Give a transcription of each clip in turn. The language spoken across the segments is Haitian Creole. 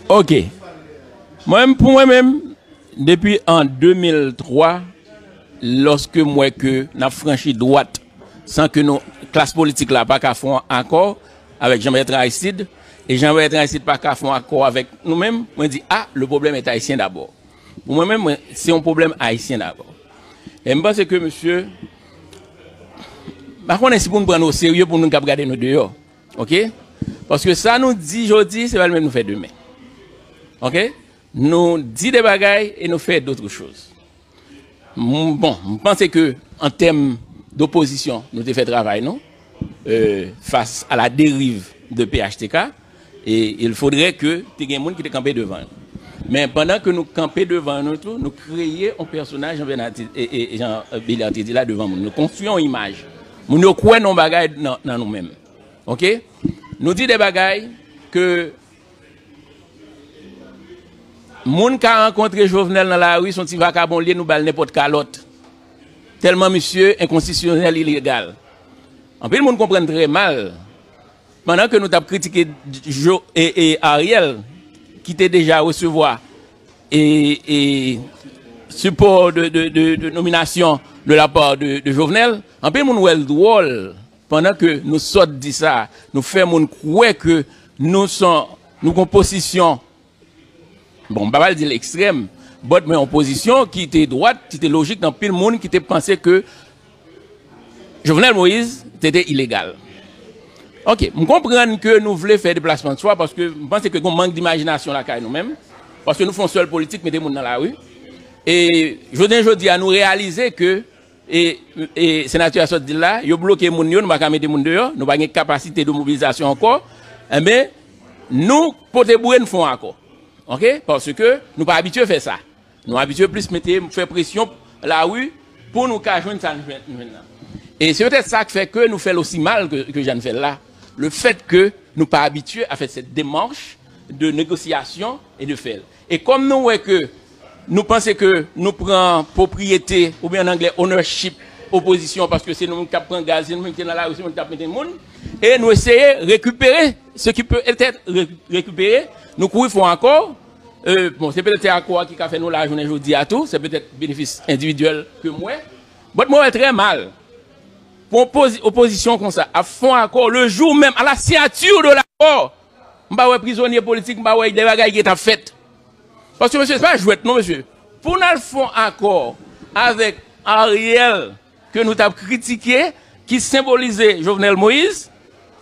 Ok Mwen pou mwen menm Depi an 2003 Lòske m wè ke N ap franchi dwat San ke nou klas politik la pa ka fon akò Avèk Jean Bertrand Aristide E Jean Bertrand Aristide pa ka fon akò avèk nou menm Mwen di a le problème est Haïtien d'abord. Pou mwen menm mwen se yon pwoblèm ayisyen dabò. E m panse ke mesye m pa konnen si pou nou pran nou oserye pou moun k ap gade nou deyò ok. Paske sa nou di jodi se pa li menm nou fè demen ok. Nou di de bagay e nou fè dotre choz. Bon m panse ke an tèm dopozisyon nou te fè travay nou fas a la deriv de phtk. E il faudrait ke te gen moun ki te kanpe devan yo. Men pandan ke nou kanpe devan yo nou tou, nou kreye yon pèsonaj jan Bernard te, jan Beliard te di la devan moun. Nou konstwi yon imaj. Moun yo kwè nan yon bagay nan nou menm. Ok? Nou di de bagay ke moun ka rankontre Jovenel nan lari son ti vakabon li ye nou bal nenpòt kalòt. Tèlman misye enkonsisyonèl ilegal. Anpil moun konprann trè mal Pandan ke nou tap kritike Ariel ki te deja resevwa sipò de nominasyon de la part de Jovenel, anpil moun wèl dwòl pandan ke nou sòt di sa, nou fè moun kwè ke nou son nou gon posisyon Bon, m pa pral di l ekstrèm, but men yon pozisyon ki te dwat, ki te lojik nan pil moun ki te panse ke Jovenel Moïse te te ilegal. Ok, m konprann ke nou vle fè deplasman swa paske m panse ke gon mank dimajinasyon lakay nou menm, paske nou fè yon sèl politik mete moun nan lari. E jounen jodi a nou reyalize ke E senatè a sot di l la, yo bloke moun yo, nou pa ka mete moun deyò, nou pa gen kapasite de mobilizasyon ankò, enben nou pote boure n fon akò. Ok, paske nou pa abitye fè sa. Nou abitye plis mete, fè presyon lari pou nou ka jwenn sa n jwenn la. E se petèt sa k fè ke nou fè l osi mal ke jan n fè l la, lefètke nou pa abitye a fè sèt demach de negosyasyon e de fè l. E kòm nou wè ke nou panse ke nou pran pwopriyete oubyen an anglè ownership opozisyon an paske se nou menm k ap pran gaz, se nou menm ki te nan lari, se nou menm k ap mete moun e nou eseye rekipere se ki pe etèt rekipere nou kouri fon akò e bon se petèt se akò a ki ka fè nou la jounen jodi a tou se petèt benefis endividyèl ke m wè bòt mwen wè trè mal pou yon opozisyon konsa ap fon akò le jou menm a la siyati de lakò. M pa wè prizonye politik, m pa wè de bagay ki ta fèt. Paske mesye se pa jwèt non mesye. Pou n al fon akò avèk Ariel ke nou t ap kritike ki senbolize Jovenel Moïse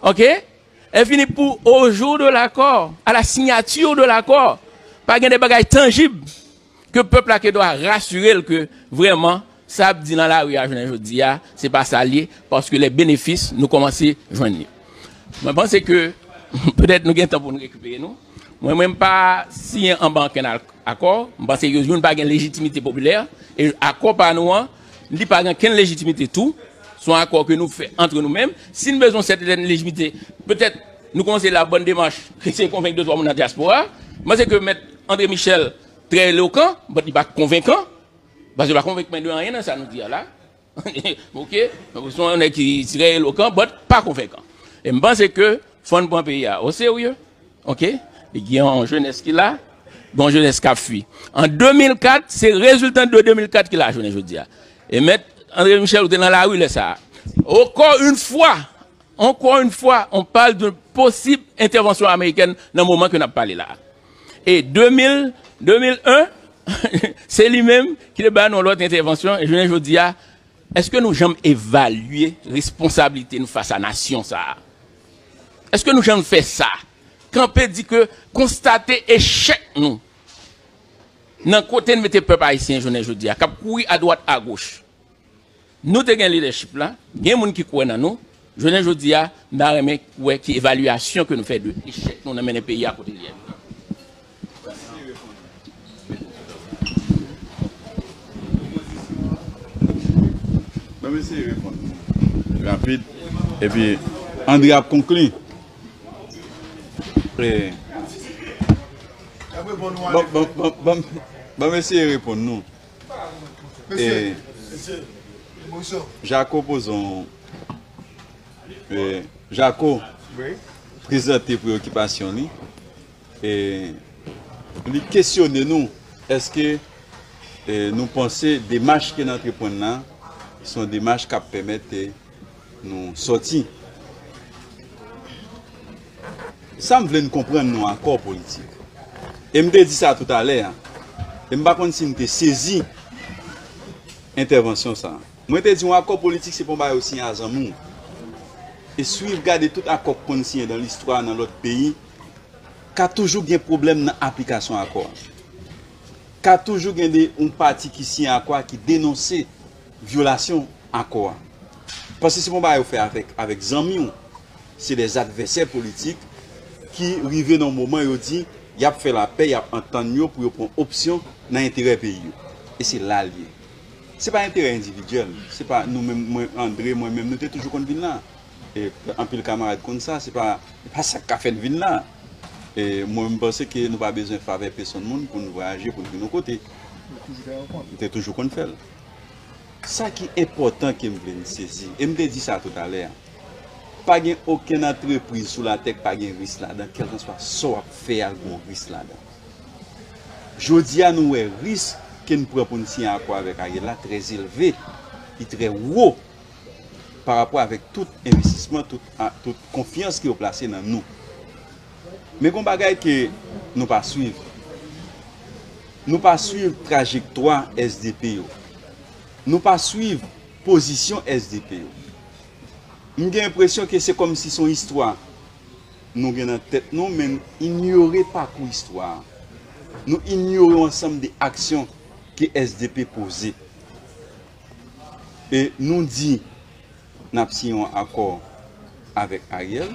ok e fini pou au jour de l'accord, à la signature de l'accord pa gen de bagay tanjib. Ke pèp la ke dwa rasire l ke vrèman sa ap di nan lari a jounen jodi a, se pa sa l ye, paske lè benefis nou kòmanse jwenn li. Mwen panse ke petèt nou gen tan pou nou rekipere nou. Mwen menm m pa siyen anba ankenn akò. M panse ke youn pa gen lejitimite popilè. E akò pa nou an, li pa gen kenn lejitimite tou. S on akò ke nou fè antre nou menm. Si n bezwen yon sèten lejimite, petèt. Nou kòmanse la bòn demach eseye konvenk de twa moun nan dyaspora. M panse ke mèt André Michel trè elokan but li pa konvenkan. Paske li pa konvenk mwen de anyen nan sa nou di a la. Ok, se yon nèg ki trè elokan but pa konvenkan. E m panse ke fò n pran peyi a o serye. Ok, li gen yon jenès ki la, gen yon jenès k ap fui. An 2004, se reziltan de 2004 ki la jounen jodi a. E mèt André Michel ou te nan lari lè sa a. Ankò yn fwa! Ankò yn fwa, on pal d'un posib entèvansyon amerikèn nan moman ke nap pale la a. E 2000, 2001, se li menm ki te ba nou yon lòt entèvansyon, e jounen jodi a, èske nou janm evalye responsablite nou fas a nasyon sa a? Èske nou janm fè sa? Kanpe di ke konstate echèk nou nan kote n mete pèp ayisyen jounen jodi a, kap kouri adwat agoch. Nou te gen leadership la, gen moun ki kwè nan nou, jounen jodi a m ta renmen wè ki evalyasyon ke nou fè de echèk nou nan mennen peyi a kote li ye jounen jodi a. Jako pozon Jako prezante preokipasyon li e li kesyone nou eske nou panse demach ke n antreprann la son demach kap pèmèt Nou soti. Sa m vle n konprann nou akò politik. E m te di sa tout alè a. E m pa konn si n te sezi entèvansyon sa. Mwen te di yon akò politik se pa yon bagay ou siyen a zanmi w. E swiv gade tout akò k konn siyen dan listwa nan lòt peyi, ka toujou gen pwoblèm nan aplikasyon akò a. Ka toujou gen de yon pati ki siyen akò a ki denonse vyolasyon. akò a. Paske se pa yon bagay ou fè avèk avèk zanmi w. Se des advèsè politik ki rive nan yon moman yo di y ap fè lapè, y ap antann yo pou yo pran opsyon nan enterè peyi yo. E se la l ye. Se pa enterè endividyèl. Se pa nou menm, mwen, Andre, mwen menm nou te toujou konn vin la. E anpil kamarad konn sa. Se pa sa k ka fè n vin la. E mwen m panse ke nou pa bezwen favè pesonn moun pou n vwayaje, pou n vin yon kote. Nou te toujou konn fè l. Sa ki enpòtan ke m vle n sezi, e m te di sa toutalè a, pa gen okenn antrepriz sou latè k pa gen ris ladan, kèlkanswa sa w ap fè a gon ris ladan. Jodi a nou wè ris ke n pran pou n siyen akò avèk Ariel la trè elve, li trè wo parapò avèk tout envestisman, tout konfyans ke yo plase nan nou. Men gon bagay ke nou pa swiv. Nou pa swiv trajektwa SDP yo. Nou pa swiv pozisyon SDP yo. M gen enpresyon ke se kòm si son istwa nou gen nan tèt nou men nou inyore pakou istwa a. Nou inyore yon ansanm de aksyon ke SDP poze. E nou di. Nap siyen yon akò avèk Ariel,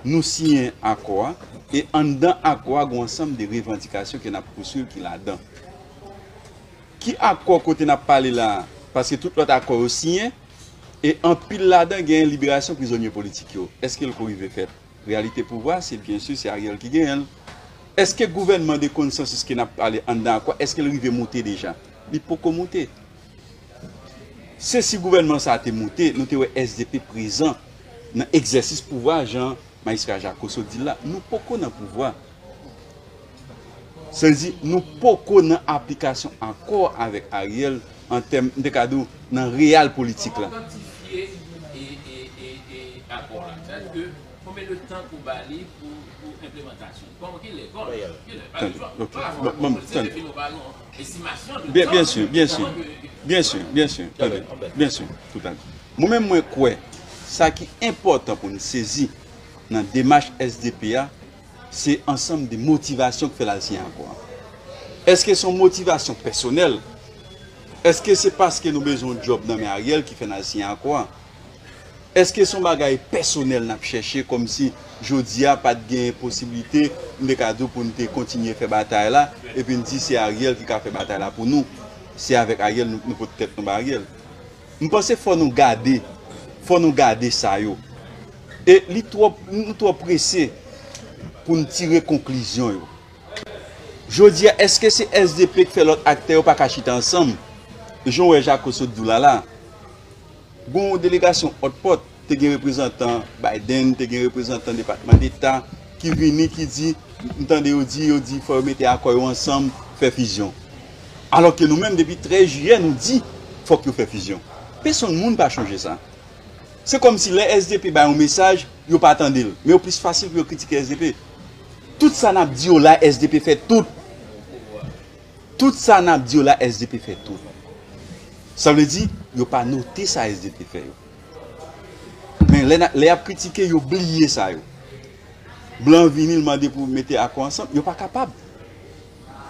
nou siyen akò a e anndan akò a gen yon ansanm de revandikasyon ke nap pouswiv ki ladan. Ki akò kote nap pale la a? Paske tout lòt akò yo siyen e anpil ladan genyen liberasyon prizonye politik yo. Eske l ko rive fèt? Reyalite pouvwa a se byen si se Ariel ki genyen l. Eske gouvènman de konsansis ke nap pale anndan akò a eske l rive moute deja? Li poko moute. Se si gouvènman sa a te moute, nou te wè sdp prezan nan egzèsis pouvwa jan Majistra Jacosso di l la. Nou poko nan pouvwa. Sa vle di nou poko nan aplikasyon akò avèk Ariel an tèm, m te ka di w, nan real politik la. Kòman w kantifye e akò la? Sa vle di ke konbyen de tan pou w ba li pou enplemantasyon l? Kòman, ki lè, kòman, ki lè? Tande, ok, m ap, m ap, tande. Byen sur, byen sur, byen sur, byen sur, tande, byen sur, tout tande. Mwen menm mwen kwè sa ki enpòtan pou nou sezi nan demach SDP a, se ansanm de motivasyon ki fè l al siyen akò a. Eske se yon motivasyon pèsonèl? Eske se paske nou bezwen yon djòb nan men Ariel ki fè n al siyen akò a? Eske son bagay pèsonèl nap chèche kòmsi jodia pat gen posiblite m te ka di w pou n te kontinye fè batay la epi n di se Ariel ki ka fè batay la pou nou se avèk Ariel nou pot tèt nou bay Ariel m panse fò nou gade fò nou gade sa yo e li twò nou twò prese pou n tire konklizyon yo jodia eske se SDP k fè lòt aktè yo paka chita ansanm jan w wè jako sot di w la la. Gon yon delegasyon òt pòt, te gen reprezantan Biden, te gen reprezantan Depatman Deta ki vini ki di, m tande yo di, yo di fò yo mete akò yo ansanm, fè fizyon. Alò ke nou menm depi 13 jiyè nou di fòk yo fè fizyon. Pesonn moun pa chonje sa. Se kòm si lè sdp bay yon mesaj, yo pa tande l. Men yo plis fasil pou yo kritike sdp. Tout sa n ap di yo la sdp fè tout. Tout sa nap di yo la sdp fè tou. Sa vle di yo pa note sa sdp fè yo. Men lè yap kritike yo bliye sa yo. Blan vini l mande pou mete akò ansanm, yo pa kapab.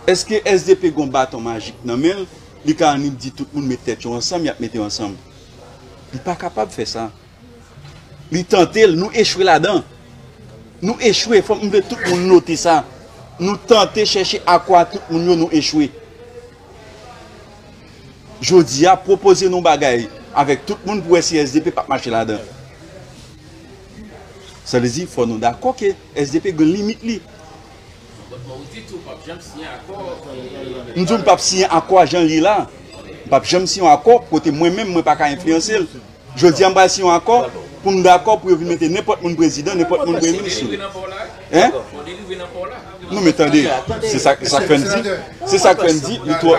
Eske sdp gon baton majik nan men l, li ka annik di tout moun met tèt yo ansanm yap mete yo ansanm. Li pa kapab fè sa. Li tante l, nou echwe ladan. Nou echwe, fòk m vle tout moun note sa. Nou tante chèche akwa tout moun yo, nou echwe. Jodi a, pwopoze nou bagay avèk tout moun pou wè si SDP pap mache ladan. Sa vle di, fòk nou dakò ke SDP gen limit li. M di w m pap siyen akò a jan l ye la. M pap janm siyen yon akò kote mwen menm mwen pa ka enfliyanse l. Jodi a m pral siyen yon akò pou m dakò pou yo vin mete nenpòt moun prezidan, nenpòt moun premye minis sou li. Hein? Non men tande, se sa k fè n di, se sa k fè n di li twò,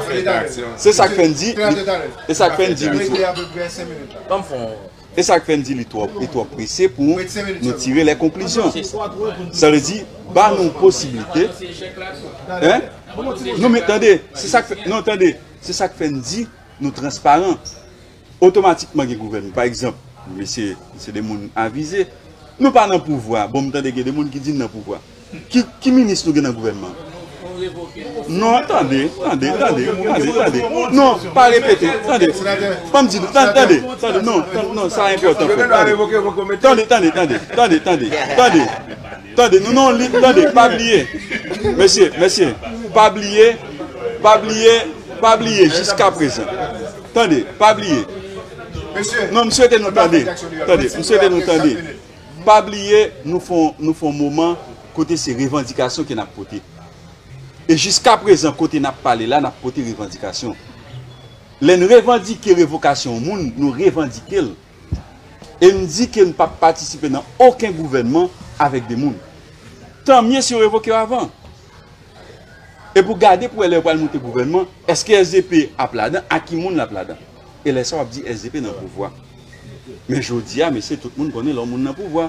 se sa k fè n di li, e sa k fè n di li twò, e sa k fè n di li twò, li twò prese pou nou tire lè konklizyon. Sa vle di, ba nou posiblite, hein? Non men tande, se sa k fè, non tande, se sa k fè n di nou transparan. Otomatikman gen gouvènman. Pa egzanp, mesye se de moun avize. Nou pa nan pouvwa. Bon m tande gen de moun ki di n nan pouvwa. Ki minis nou gen nan gouvènman an? Non, tande, tande, tande, tande, tande. Non, pa repete. Tande. Ban m di nou. Tande, tande, tande. Non, non, sa enpòtan. Tande, tande, tande, tande, tande, tande. Tande nou non li tande pa bliye mesye mesye pa bliye pa bliye pa bliye jiska prezan tande pa bliye non m swete nou tande tande m swete nou tande pa bliye nou fon nou fon moman kote se revandikasyon ke nap pote e jiska prezan kote nap pale la nap pote revandikasyon lè n revandike revokasyon yon moun nou revandike l e n di ke n pap patisipe nan oken gouvènman avèk de moun. Tan mye si yo revoke yo avan. E pou gade pou wè lè yo pral moute gouvènman, eske sdp ap ladan, ak ki moun lap ladan. E lè sa wap di sdp nan pouvwa. Men jodi a mesye tout moun konnen lè yon moun nan pouvwa.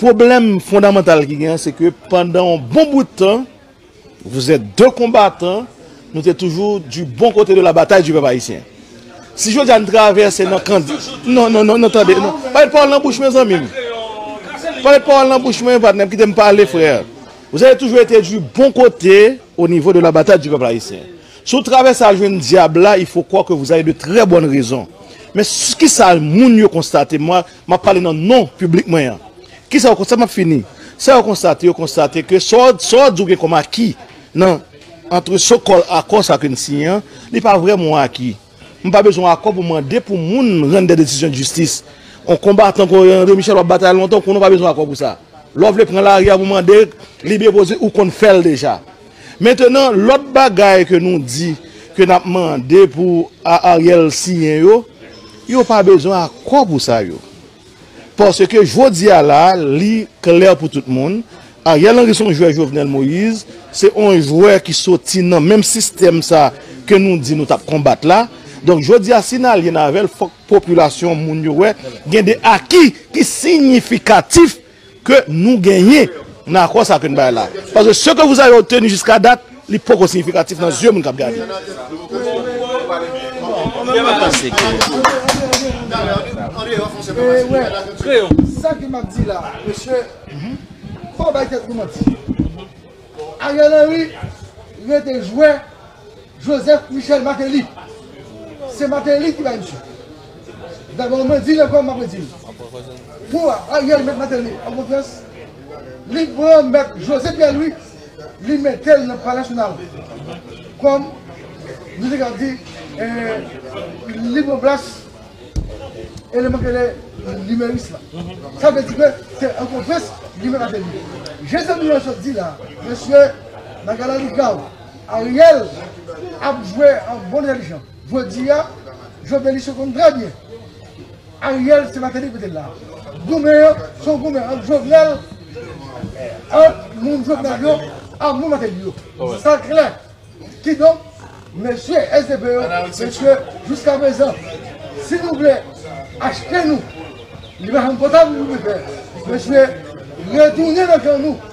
Pwoblèm fondamantal ki genyen se ke pandan yon bon bout tan, vous êtes deux combattants, nou te toujou du bon kote de la bataille du pèp ayisyen. Si jodi a nou travèse nan kan, non, non, non, tande, non, pa met pawòl nan bouch mwen zanmi m, pa met pawòl nan bouch mwen patnè m, kite m pale frè. Vous avez toujours été du bon côté au niveau de la bataille du peuple haïtien. Si w travèse al jwenn dyab la, il faut croire que vous avez de très bonnes raisons. Men kisa moun yo konstate, mwa, M ap pale nan non piblik mwen an. Ki sa yo konstate? M ap fini. Sa yo konstate? Yo konstate ke sa w di ou gen kòm aki nan antre so kòl akò sa ke n siyen an, li pa vrèman yon aki. M pa bezwen yon akò pou mande pou moun rann de desizyon jistis. Yon konbatan kon André Michel w ap batay lontan, ou konnen w pa bezwen akò pou sa. Lè w vle pran lari a pou mande li depoze, ou konn fè l deja. Mentenan lòt bagay ke nou di ke nap mande pou Ariel siyen yo, yo pa bezwen akò pou sa yo. Paske jodi a la li klè pou tout moun, Ariel Henry son jwè Jovenel Moïse se on jwè ki soti nan menm sistèm sa ke nou di nou tap konbat la. Donk jodi a si nalyen avèl fòk popilasyon moun yo wè gen de aki ki sinyifikatif. ke nou genyen nan akò sa ke n bay la a. Paske se ke vous avez obtenu jiska dat, li poko siyifikatif nan zye moun k ap gade. Mwen pa panse ke nou te dwe fè sa. Joseph Michel Martelly se Martelly ki bay misye dabò mwen dil ankò map redil pou Ariel met Martelly an konfyans li pran mèt José Pierre Louis li metel nan palè nasyonal kòm nou te ka di li pran plas eleman ki rele numeris la sa vle di ke se an konfyans li met Martelly je zanmi an sot di la mesye bagay la li grav. Ariel ap jwe an bon religion jodia jovenlist yo konn trè byen Ariel se mateli pou te la goumen an son goumen ant jovenel ant moun jovenel yo ak moun mateli yo sa klè kidonk mesye sdp yo mesye jiska prezan si nou vle achte nou li pa janm kontan pou nou mesye retounen nan kan nou.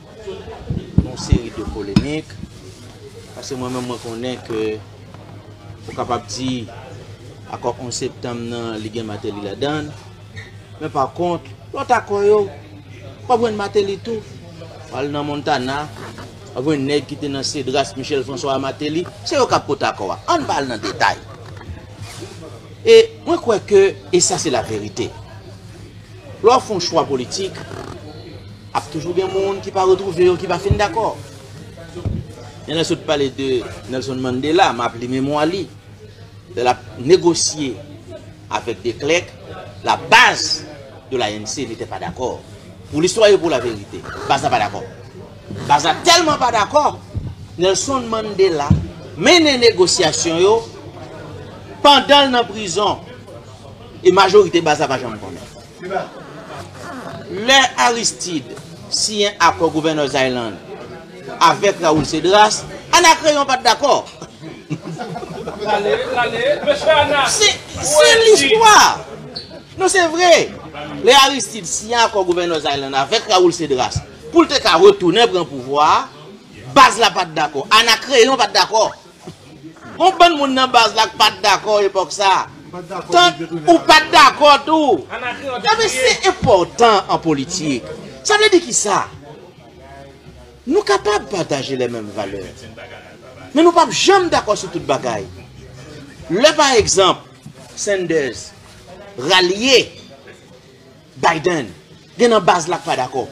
yon seri de polemik, paske mwen menm mwen konnen ke ou kapab di akò 11 septanm nan li gen Mateli ladann, men pa kont lòt akò yo, wap jwenn Mateli tou, wal nan Montana, wap jwenn nèg ki te nan Cedras, Michel François a Mateli, se yo kap pote akò a, ann pa al nan detay. E mwen kwè ke, e sa se la verite, lè wap fon chwa politik, Ap toujou gen moun ki pa retwouve yo ki pa fin dakò. Jan lè sot pale de Nelson Mandela, map li memwa li. Lè lap negosye avèk de Klerk, la baz de l'ANC n'était pas d'accord. Pou listwa e pou la verite. Baz la pa dakò. Baz la tèlman pa dakò, Nelson Mandela mennen negosyasyon yo pandan'l nan prizon. E majorite baz la pa janm konnen. Lè Aristide siyen akò Gouverneurs Island avèk Raoul Cedras, Anacreon pat dakò. Se listwa! Non se vre! Lè Aristide siyen akò Gouverneurs Island avèk Raoul Cedras pou l te ka retounen pran pouvwa a, baz la pat dakò. Anacreon pat dakò. Gon bann moun nan baz la k pat dakò epòk sa a. Tank ou pat dakò tou. Enben se enpòtan an politik. Sa vle di ki sa? Nou kapab pataje lè menm valè. Men nou pap janm dakò sou tout bagay. Lè pa egzanp Sanders ralye. Biden gen nan baz la k pa dakò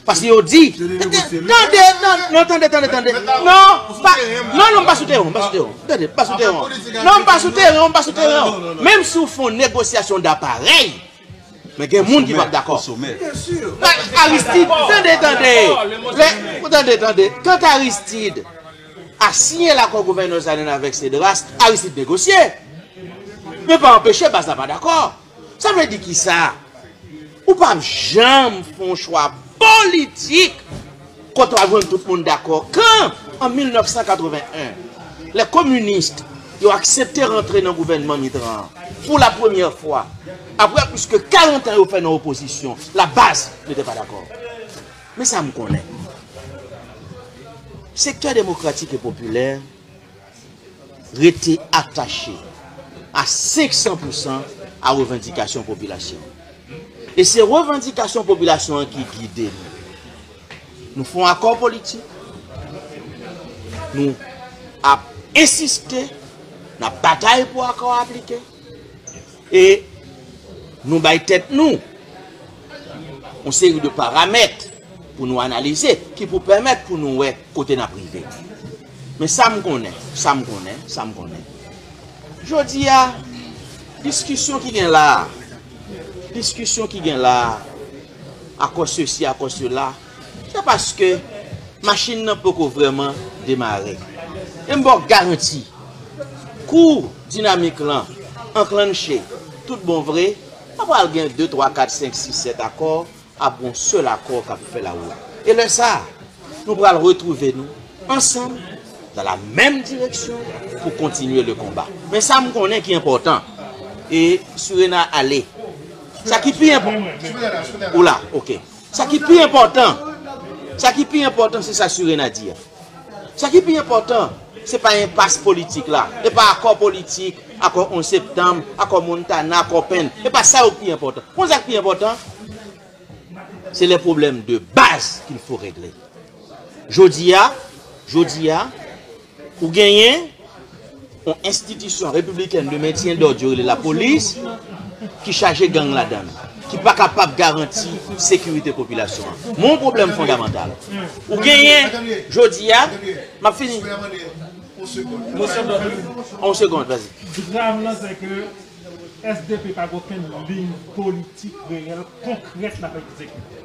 paske yo di tande non tande tande tande non pa non non m pa sou teren w m pa sou teren w tande m pa sou teren w non m pa sou teren w m pa sou teren w menm si w fè yon negosyasyon da parèy men gen moun ki p ap dakò Aristide tande tande lè tande tande quand Aristide a siyen lakò gouvènè Zanin avèk Cedras Aristide negosye men pa anpeche baz la pa dakò. Sa vle di kisa? Ou pap janm fon chwa politik kote wap jwenn tout moun dakò. Kan an 1981, lè kominist yo aksepte rantre nan gouvènman Mitran an pou la premyè fwa, apre plis ke 40 an yo fè nan opozisyon, la baz yo te pa dakò. Men sa m konnen. Sektè demokratik e popilè rete atache a 500 pou san a revandikasyon popilasyon an. E se revandikasyon popilasyon an ki gide nou. Nou fon akò politik, nou ap ensiste, n ap batay pou akò a aplike. E nou bay tèt nou yon seri de paramèt pou nou analize ki pou pèmèt pou nou wè kote n ap rive. Men sa m konnen, sa m konnen, sa m konnen, jodi a, diskisyon ki gen la a, diskisyon ki gen la a, akò sesi, akò sela, Se paske machin nan poko vrèman demare. E m ba w garanti, kou dinamik lan anklanche tout bon vre, pa pral gen de, twa, kat, senk, sis, sèt akò, ap gen yon sèl akò k ap fè lawout. E lè sa a, nou pral retwouve nou ansanm dan la menm direksyon pou kontinye le konba. Men sa m konnen ki enpòtan, e Surena ale. Sa ki pi enpò. Ou la, ok. Sa ki pi enpòtan, sa ki pi enpòtan se sa Surena di a. Sa ki pi enpòtan se pa enpas politik la, e pa akò politik, akò 11 septanm, akò Montana, akò Penn, e pa sa yo ki pi enpòtan. Ou konn sa ki pi enpòtan? Se lè pwoblèm de baz ki l fo regle. Jodi a, jodi a. Ou genyen yon enstitisyon repibliken de mentyen dòd yo rele lapolis ki chaje gang ladann, ki pa kapab garanti sekirite popilasyon an. Men yon pwoblèm fondamantal. Ou genyen jodi a, m ap fini. On segond, vas-y. Dram nan se ke sdp pa gen okenn liy politik reyèl konkrèt l ap egzekite.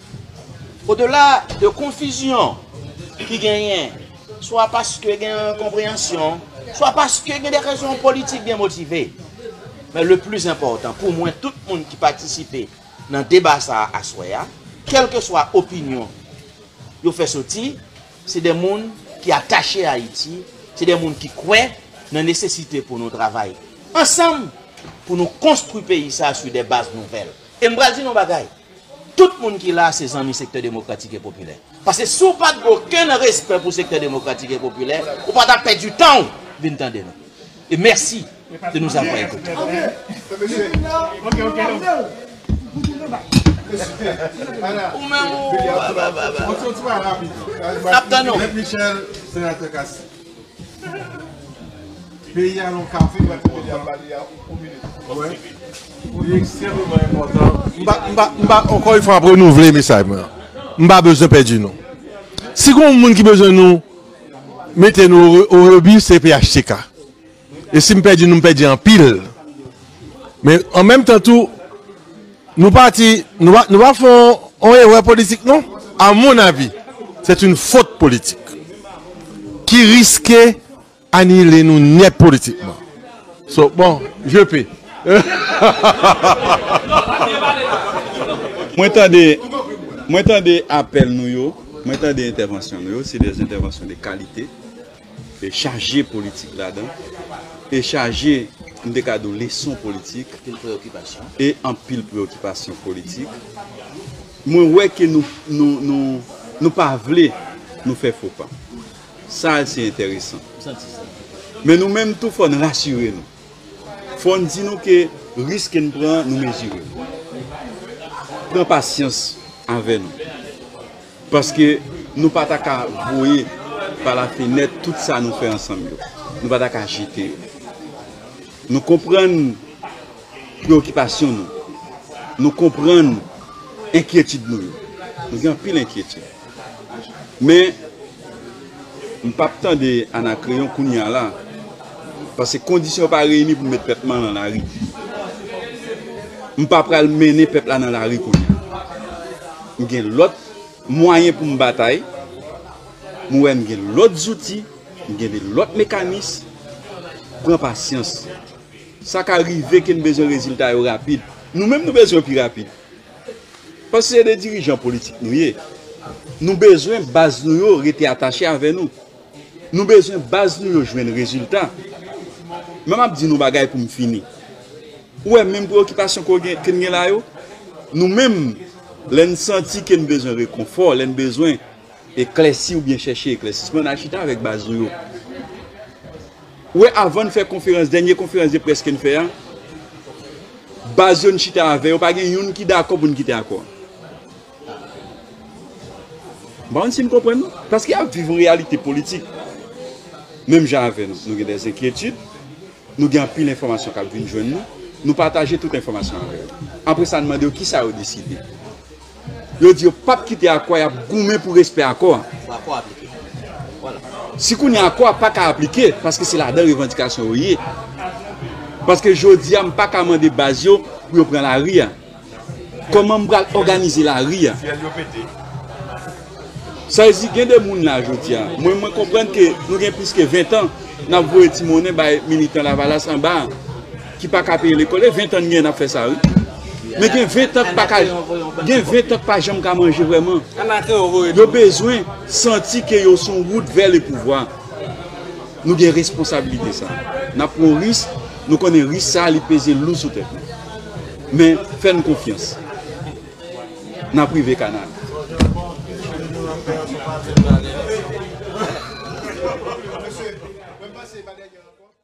Odela de konfizyon ki genyen, swa paske gen enkonpreyansyon, swa paske gen de rezon politik byen motive, men le pli enpòtan pou mwen tout moun ki patisipe nan deba sa a aswè a, kèlkeswa opinyon yo fè soti, se de moun ki atache Ayiti, se de moun ki kwè nan nesesite pou nou travay ansanm pou nou konstwi peyi sa a sou de baz nouvèl. E m pral di nou yon bagay. Tout moun ki la a se zanmi Sektè Demokratik e Popilè. Paske si w pa t gen okenn respè pou Sektè Demokratik e Popilè, ou pa t ap pèdi tan w vin tande nou. E mèsi de nous avoir écoutés. Peyi a lon kafou pou peyi a pale a pou kou minit. Wè. Li ekstrememan enpòtan. M pa, m pa, m pa, ankò yon fwa m ap renouvle mesaj mwen an. M pa bezwen pèdi nou. Si gen yon moun ki bezwen nou mete nou o rebu se phtk. E si m pèdi nou, m pèdi anpil. Men an menm tan tou, nou pati, nou pa fè yon erè politik non. A mon avi, sèt yon fot politik ki riske anile nou nèt politikman. So, bon, je pe. Mwen tande, mwen tande apèl nou yo, mwen tande entèvansyon nou yo, se de entèvansyon de kalite. Li chaje politik ladan, e chaje, m te ka di w, leson politik, e anpil preyokipasyon politik. Mwen wè ke nou pa vle nou fè fo pa. Sa a se enteresan. Men nou menm tou fò n rasire nou. Fò n di nou ke risk ke n pran, nou mezire l. Pran pasyans avè nou. Paske nou pa ta ka voye pa lafenèt tout sa nou fè ansanm yo. Nou pa ta ka jete yo. Nou konprann preokipasyon nou. Nou konprann enkyetid nou yo. Nou gen anpil enkyetid. Men, M pap tande anakreyon kounya la paske kondisyon pa reyini pou m met pèp lan nan lari. M pa pral mennen pèp la nan lari kounya. M gen lòt mwayen pou m batay. M wè m gen lòt zouti, m gen de lòt mekanis. Pran pasyans. Sa ka rive ke n bezwen rezilta yo rapid. Nou menm nou bezwen yo pi rapid. Paske se de dirijan politik nou ye. Nou bezwen baz nou yo rete atache avè nou. Nou bezwen baz nou yo jwenn rezilta. Men map di nou bagay pou m fini. Ou wè menm preokipasyon ke n gen la yo, nou menm lè n santi ke n bezwen rekonfò, lè n bezwen. Eklèsi oubyen chèche eklèsisman nan chita avèk baz nou yo. Ou wè avan n fè konferans, dènye konferans de près ke n fè a, baz yo n chita avè yo pa gen youn ki dakò pou n kite akò an. M pa konn si n konprann non. Paske y ap viv yon reyalite politik menm jan avè nou. Nou gen dè enkyetid, nou gen anpil enfòmasyon k ap vin jwenn nou, nou pataje tout enfòmasyon avè yo. Apre sa n mande yo kisa yo deside. yo di yo p ap kite akò a, y ap goumen pou respè akò a. Si kounye a akò a pa ka aplike, paske se ladan revandikasyon yo ye, paske jodi a m pa ka mande baz yo pou yo pran lari a, kòman m pral òganize lari a? Saizi gen de moun la jodia mwen mwen konprann ke nou gen plis ke 20 tan nap voye ti monnen bay militan lavalas anba an ki paka peye lekòl e 20 tan n gen nap fè sa wi men gen 20 tan k paka gen 20 tan k pa janm ka manje vrèman yo bezwen santi ke yo sou wout vè le pouvwa nou gen responsabilite sa nap pran yon risk nou konnen risk sa li peze lou sou tèt nou men fè n konfyans. nan prive kanal.